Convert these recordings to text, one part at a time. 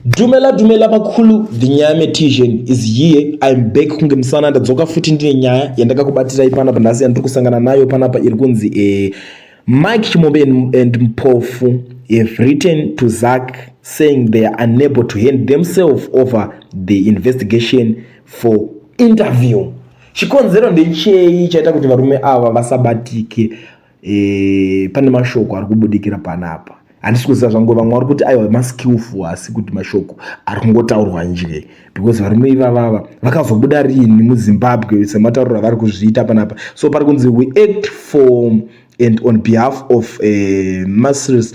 dumela dumela vakulu the nyaya metision is here im back kunge musana ndadzoka futi ndine nyaya yandakakubatirai panapa nhasi yandiri kusangana nayo panapa iri kunzi e mike chimombe and mpofu have written to zak saying they are unable to hand themselves over the investigation for interview chikonzero ndechei chaita kuti varume ava vasabatike e, pane mashoko ari kubudikira panapa handisi kuziva zvangu vamwe vari kuti aiwa maskillful hasi kuti mashoko ari kungotaurwa nje because varume ivavava vakazobuda rini muzimbabwe sematauriro avari kuzviita panapa so pari kunzi we act for and on behalf of uh, eh, masters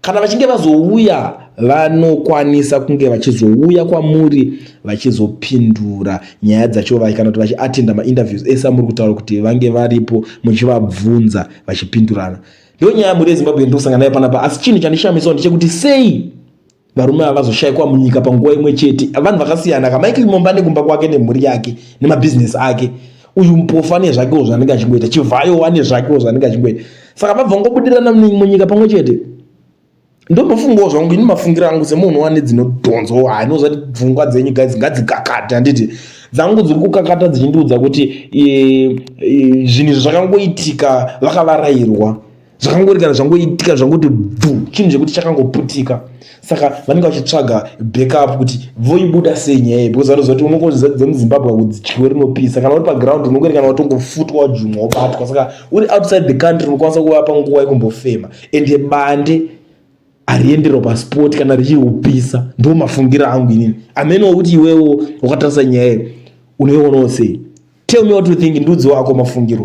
Kana vachinge vazouya vanokwanisa kunge vachizouya kwamuri vachizopindura nyaya dzacho vaye kana kuti vachiatenda mainterviews ese amuri kutaura kuti vange varipo muchivabvunza vachipindurana ndo nyaya yamuri yezimbabwe yandikusangana nayo panapa asi chinhu chandishamisawo ndechekuti sei varume ava vazoshayikwa munyika panguva imwe chete vanhu vakasiyana kamaiki momba nekumba kwake nemhuri yake nemabhizinesi ake uyu mupofu ane zvakewo zvanenge achingoita chivhayo ane zvakewo zvanenge achingoita saka vabva ngobudirana munyika pamwe chete ndonofungawo zvangu ini mafungiro angu semunhu wane dzinodhonzo anozati pfungwa dzenyu guys ngadzikakate handiti dzangu dziri kukakata dzichindiudza kuti e, e, zvinhu izvi zvakangoitika vakavarairwa zvakangori kana zvangoitika zvangoti bvu chinhu chekuti chakangoputika saka vanenge vachitsvaga backup kuti voibuda sei nyaya iyi because vanoziva kuti unongonzi dzemuzimbabwe kudzityiwe rinopisa kana uri paground unongori kana watongofutwa wajumwa wobatwa saka uri outside the country unokwanisa kuvapa nguva yekumbofema ende bande hariendero pasport kana richiri kupisa ndo mafungiro angu inini amene wakuti iwewo wakatarisa nyaya iyi unoionawo sei tell me what you think ndudzi wako mafungiro